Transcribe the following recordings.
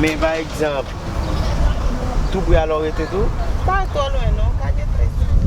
Men pa egzanp, tou pre Alorette tou? Pa twò lwen non, pa gen 13 nan wè.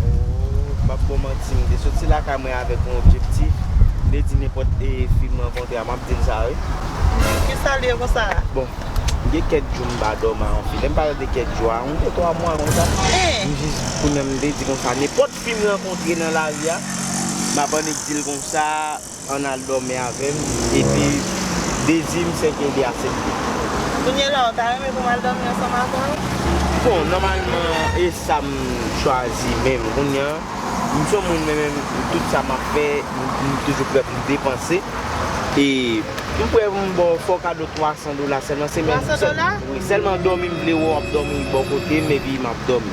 Oh, m ap ba w manti, m te soti lakay mwen avèk yon objektif, m te di nenpòt fi m rankontre a, m ap di l sa wi. Ki sa l ye konsa a? Bon, gen kèk jou m pa dòmi ak yon fi, lè m pale de kèk jou a, yon 2, 3 mwa konsa. M jis, kounye a m te di konsa, nenpòt fi m rankontre nan lari a, m ap annik di l konsa. Ann al dòmi avè m epi dezi m se Kendy asepte. Kounyela ou ta renmen pou m al dòmi ansanm avè w? Bon, nòmalman e sa m chwazi menm kounya. M son moun mwen menm tout sa m ap fè m toujou prè pou m depanse e m prè pou m ba w fo kado 300 dola sèlman. 300 dola? Wi, sèlman dòmi m vle wè w ap dòmi bò kote m epi m ap dòmi.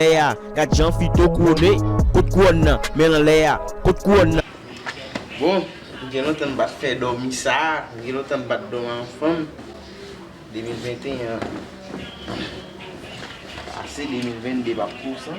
Lè a, gad jan Fito kouwone, kot kouwòn nan, men lan lè a, kot kouwòn nan. Bon, m gen lontan m pa t fè dòmi sa a, m gen lontan m pa t dòmi an fanm, 2021 an pase, 2022 p ap pou san.